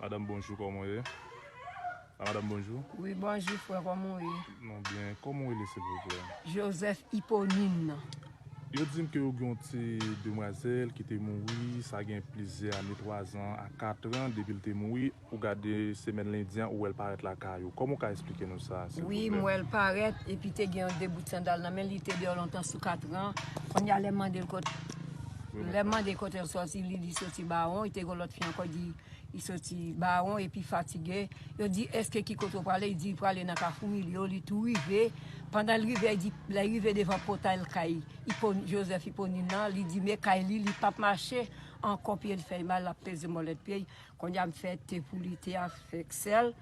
Madam bonjou koman ou ye. A madam bonjou. Wi bonjou frè koman ou ye. Nou byen koman ou rele silvouplè. Joseph Hyponine. Yo dim ke ou gen yon ti demwazèl ki te mouri sa gen plizyè ane 3 zan a 4 an depi li te mouri. Ou gade semèn lendi an ou wèl parèt lakay ou kòman ou ka esplike nou sa silvouplè? Wi m wèl parèt epi te gen yon 2 bout sandal nan menl li te deyò lontan sou katran kounya lèm mandel kot lèm mande kotel sòti li di soti bawon li te gen yon lòt fi ankò di li soti bawon epi fatige yo di eske ki kote ou prale li di li prale nan kafou milyo li tou rive pandan li rive li di lèl rive devan pòtay lkay ipo joseph iponin nan li di me kay li li pap mache ankò pyel fèl mal lap peze mòlèt pyel. Konnya m fè te pou li, te a fèk sèl,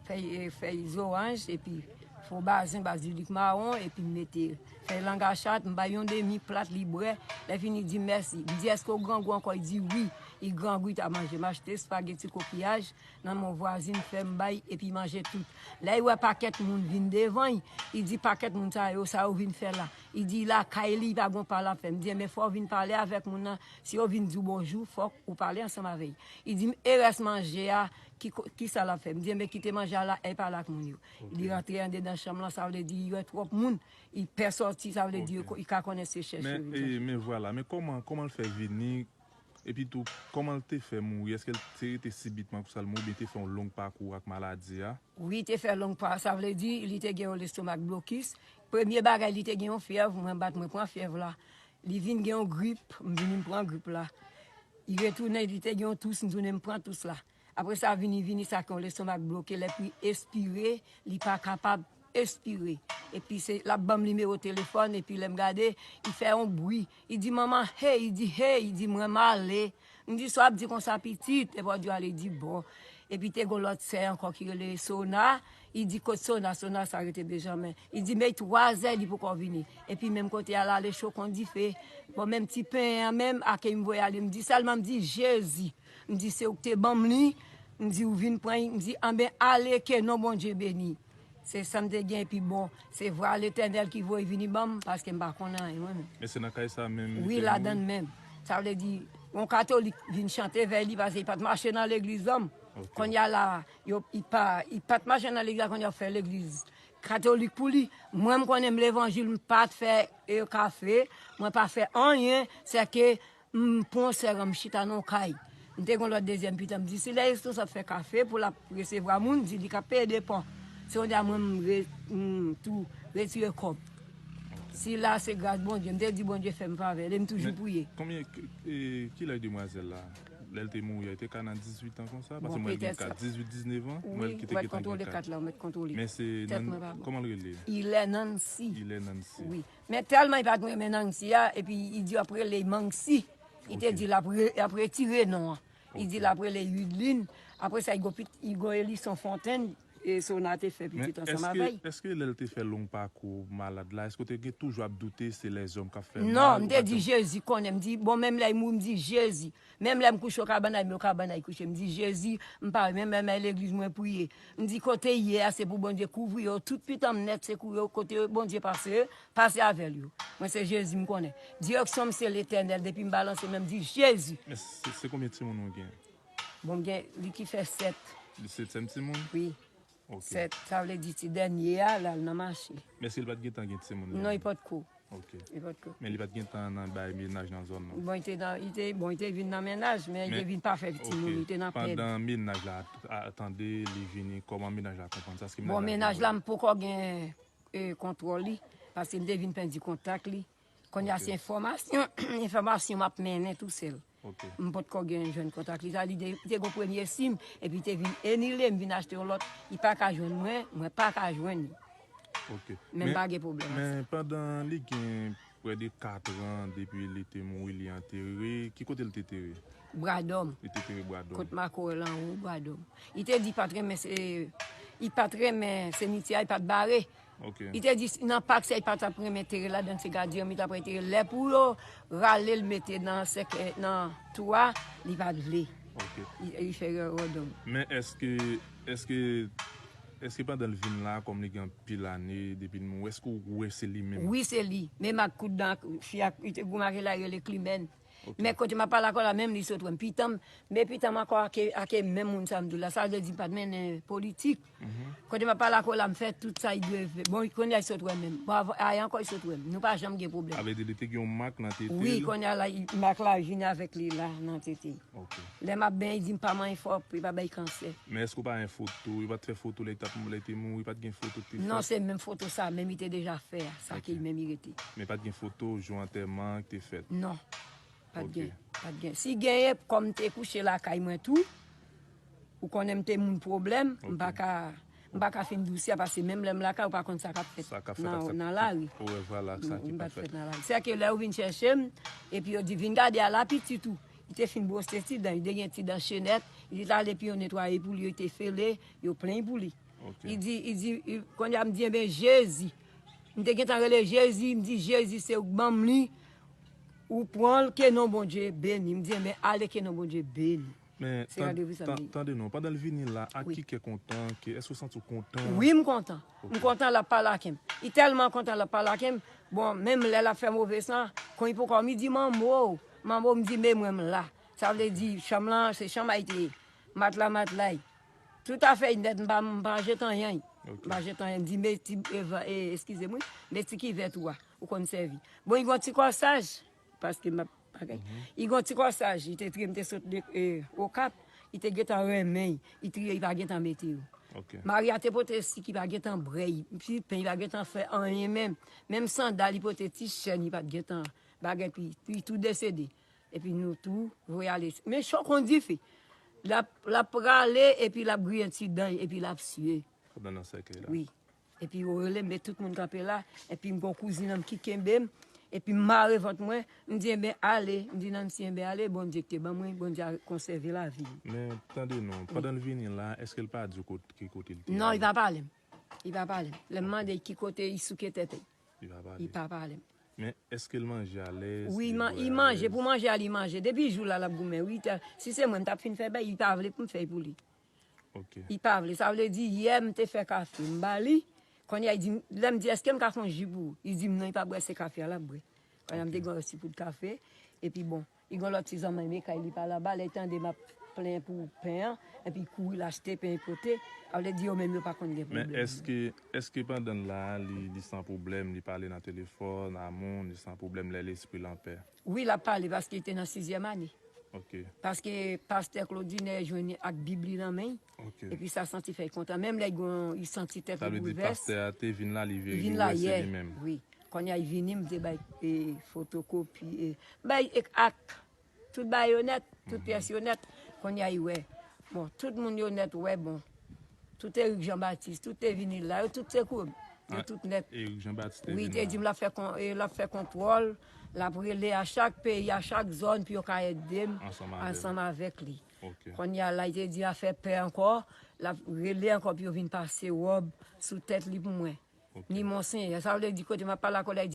fèy zoranj epi fo bazen bazilik mawon epi m mete fèy lang a chat, m bay yon demi plat li bwè, lè fini di mèsi, m di eske w grangou ankò li di wi, li grangou li ta manje, m achte espageti kokiyaj nan men yon vwazin m fè m bay epi li manje tout, lè li wè pakèt moun vin devan li, li di pakèt moun sa yo sa yo vin fè la, li di lakay li li pa gen yon pale ap fè, m di enben fò w vin pale avèk moun nan Si yo vin di w bonjou, fòk ou pale ansanm avè y. I di m, E rès manje a, ki sa l ap fè? M di, Enben, kite manje a la, e pale ak moun yo. Li rantre andedan chanm lan, sa vle di y wè twòp moun, y pè sòti, sa vle di y ka konnen se chèche yo vin chèche. Men vwala, men kòman, kòman l fè vini, epi tou, kòman l te fè mouri? Èske l te rete sibitman konsa l mouri oubyen te fè yon long pakou ak maladi a? Wi, te fè long pa, sa vle di li te gen yon lestomak blokis. Premye bagay li te gen yon fyèv, mwen bat mwen pran fyèv la. Li vin gen yon grip, m vini m pran grip la. Li retounen, li te gen yon tous, m tounen m pran tous la. Apre sa vini vini sa ke yon lestomak bloke lè pou li espire, li pa kapab espire. Epi se l ap ban m nimewo telefòn epi lè m gade li fè yon bri, li di manman hey, li di hey, li di mwen m ale. M di sa w ap di konsa pitit, epi w ap di ale di bon. Epi te gon lòt sè ankò ki rele Sona, li di kot Sona, Sona sa rete Benjamen. Li di men 3 zè li poko vini. Epi menm kote a l ale cho kon dife. Bon menm ti pen an menm a ke m voye ale m di sèlman m di Jezi, m di se ou ki te ban m li, m di ou vin pran li, m di anben ale ke non Bondye beni. Se sam te gen epi bon se vwa letènèl ki voye vini banm paske m pa konnen anyen mwen menm. Men se nan kay sa menm li te mouri? Wi ladann menm. Sa vle di yon katolik vin chante vèy li paske li pat mache nan legliz banm. Konnya la yo li pat mache nan legliz la konnya yo fè legliz katolik pou li. Mwen m konnen m levanjil m pat fè kafe, mwen pa fè anyen sèke M pran sè a m chita nan yon kay. M te gen yon lòt dezyèm pitit a m di si lè Esnos ap fè kafe pou l ap resevwa moun, di li k ap peye de pa. Se yon dam mwen m tou retire kòb. Sila se gras Bondye. M te di Bondye fè m favè li e m toujou priye. Konbyen, ki laj demwazèl la? Lè l te mouri a li te ka nan dizuitan konsa? Paske m wè l gen kat dizwit, diznevan. M wè l ki te gentan gen kat. Wi, m wè l kontwole kat la. M wè l kontwole. Men se, kòman l rele? Ilè Nansi. Ilè Nansi. Wi. Men tèlman li pat renmen Nancy a epi li di ap rele Manxi li te di lap retire non an li di lap rele Wideline apre sa Hugo Hélisson Fontaine e Sona te fè pitit ansanm avè l. Eske lè l te fè long pakou malad la eske w te toujou ap doute se lèzòm kap fè l mal? Non m te di Jezi konnen m di bon menm lè li mouri m di Jezi Menm lèm kouche okabana eme okabana yi kouche mdi jezi mpa wè menm lèm al legliz mwen priye mdi kote ye a se pou bondye kouvri yo tout pitanm nèt se kou yo kote bondye pase pase avèl yo mwen se jezi mkonnen direksyon m se letènèl depim balanse menm mdi jezi. Mesi se konbyen timoun ou gen? Bon mgen li ki fè 7. Li setyèm timoun? Wi. Ok. Sè, sa vle di ti dènye a la l nan mache. Men si l pa t gentan gen timoun li? Non li pot ko. Ok. Li pot ko. Men li pa t gentan nan bay menaj nan zòn nan? Bon li te nan, li te, bon li te vin nan menaj men li te vin pa fè timoun, li te nan pèd. Ok. Pandan menaj la a tande li vini, kòman menaj la konprann sa? Èske menaj la vini wè l? Bon menaj la m poko gen kontwòl li paske m te vin pèdi kontak li. Kounya se enfòmasyon, enfòmasyon m ap mennen tou sèl. M pot ko gen jwenn kontak li. Sa vle di li te gen yon premye sim epi li te vin enile, m vin achte yon lòt. Li pa ka jwenn mwen, mwen pa ka jwenn li. Men m pa gen pwoblèm ak sa. Men pandan li gen prè de katran depi li te mouri li antere, ki kote li te tere? Bradòm. Li te tere Bradòm. Kot Makorèl anwo Bradòm. Li te di li pa t renmen semityè a, li pa t bare. Ok. Li te di nan pak sa li pa tap renmen tere ladann se gadyen li tap antere lè pou yo ralel mete nan sèkèy nan tou a li pat vle Ok. li fè erè donk. Men eske eske eske pandan li vin la kòm li gen anpil ane depi li mouri eske ou wè se li menm? Wi se li, menm ak kout dan ak fi a li te goumen ak li la rele klimèn Men kote map pale ak ou la menm li sot wèm pitanm men pitanm ankò ake menm moun sa mdou la sa vle di mpat mennen politik kote map pale ak ou la mfè tout sa li dwe fè bon konnya li sot wèm menm ayè ankò li sot wèm nou pa janm gen pwoblèm Avle di li te gen yon mak nan tetel Wi konnya la mak la vin avèk li la nan tete lè map benyen li dim pa manyen fò pou li pa bay kansè Men èske ou pa gen foto yo pat fè foto lè li te mouri pat gen foto Non se menm foto sa menm li te deja fè a. Sa ke li menm li rete. Men pat gen foto jou antèman an k te fèt? Non. Pat gen. Pat gen. Si genyen, kòm m te kouche lakay mwen tou, ou konnen m te moun pwoblèm, m pa ka, m pa ka fin di w sa pase menm lè m lakay ou pa konn sa k ap fèt nan lari. Ou wè vwala ak sa ki pa fèt. Se a ke lè yo vin chèche m, epi yo di vin gade ala pitit ou, li te fin bwose ti dan, li te gen ti dan chenèt, li te ale epi yo netwaye pou li, yo te fele, yo plenyn pou li. Li di, li di, kounye a m di enben Jezi. M te gentan rele jezi m di jezi se ou k banm li ou pranl ke non bondye beni m di enben ale ke non bondye beni Men se randevou sa m gen. tande non pandan l vini la ak ki kè kontan ke èske ou santi w kontan? Wi m kontan m kontan lap pale ake m li tèlman kontan lap pale ake m bon menm lè lap fè move san kon li poko mi di manbo manbo m di me mwen m la sa vle di chanm lan se chanm a y te ye matla matla y. Tout a fèy nèt m pa jet anyen m pa jet anyen m di met ti eskize m wi met ti kivèt ou a ou konn sèvi bon y gon ti kòsaj paske m ap bagay y gon ti kòsaj li te triye m te sot okap li te gentan renmen y li triye li pa gentan mete yo Maria te pote sik li pa gentan brèy ti pen li pa gentan fè anyen menm menm sandal li pote ti chèn li pa gentan bagay pi tou de sede Epi nou tou voye ale. Men cho kon dife. Lap prale epi lap griyen ti dan li epi lap siye. Kap nan nan sèkèy la. Wi. Epi yo relem men tout moun kanpe la. Epi m gon kouzin an m ki kenbem. Epi m mare vant mwen. M di enben ale. M di Nancy enben ale Bondye ki te ban mwen. Bondye a konsève lavi m. Men tande non. Pandan l vini la eske l pa di w ki kote l te ale? Non li pa pale m. Li pa pale m. Lè m mande l ki kote li souke tèt li. Li pa pale. Li pa pale. Men eske l manje alèz? Wi, li manje alèz. Wi, pou manje a li manje. Depi jou la l ap goumen wi. Si se mwen m t ap fin fè bèy, li pa vle pou m fè pou li. Ok. Li pa vle. Sa vle di yè m te fè kafe m ba li, kounye a li di m, lè m di eske m ka fè yon ji pou ou, li di m non li pa bwè se kafe a l ap bwè. Kounye a m te gen yon ti poud kafe epi bon. Li gon lòt ti zanman eme kay li pale anba lè li tande map plenyen pou pen an epi li kouri lachte pen li pote avle di yo menm yo pa konn gen pwoblèm nan. Eske eske pandanl la li li san pwoblèm li pale nan telefòn a moun li san pwoblèm lè lespril anpè. Wi lap pale paske li te nan sizyèm ane. Ok. Paske pastè Claudine jwenn li ak bib li nan men. Epi sa santi fèy kontan menm lè li santi tèt li boulvès. Sa vle di pastè a te vin la li wè se li menm. Wi. Konnya li vini m te bay fotokopi e m bay ak tout bagay yo nèt, tout pyès yo nèt. Konnya li wè. Bon tout moun yo nèt wè bon. Tout Eric Jean Baptiste, tout te vini la, yo tout te kouri. Yo tout nèt. Eric Jean Baptiste te vini la. Wi, li te di m l ap fè kontwòl, l ap rele a chak peyi, a chak zòn pou yo ka ede m ansanm avèk li. Kounye a lay te di afè pè ankò lap rele ankò pou yo vin pase wòb sou tèt li pou mwen ni monsenyè sa vle di kote map pale ak ou lay di.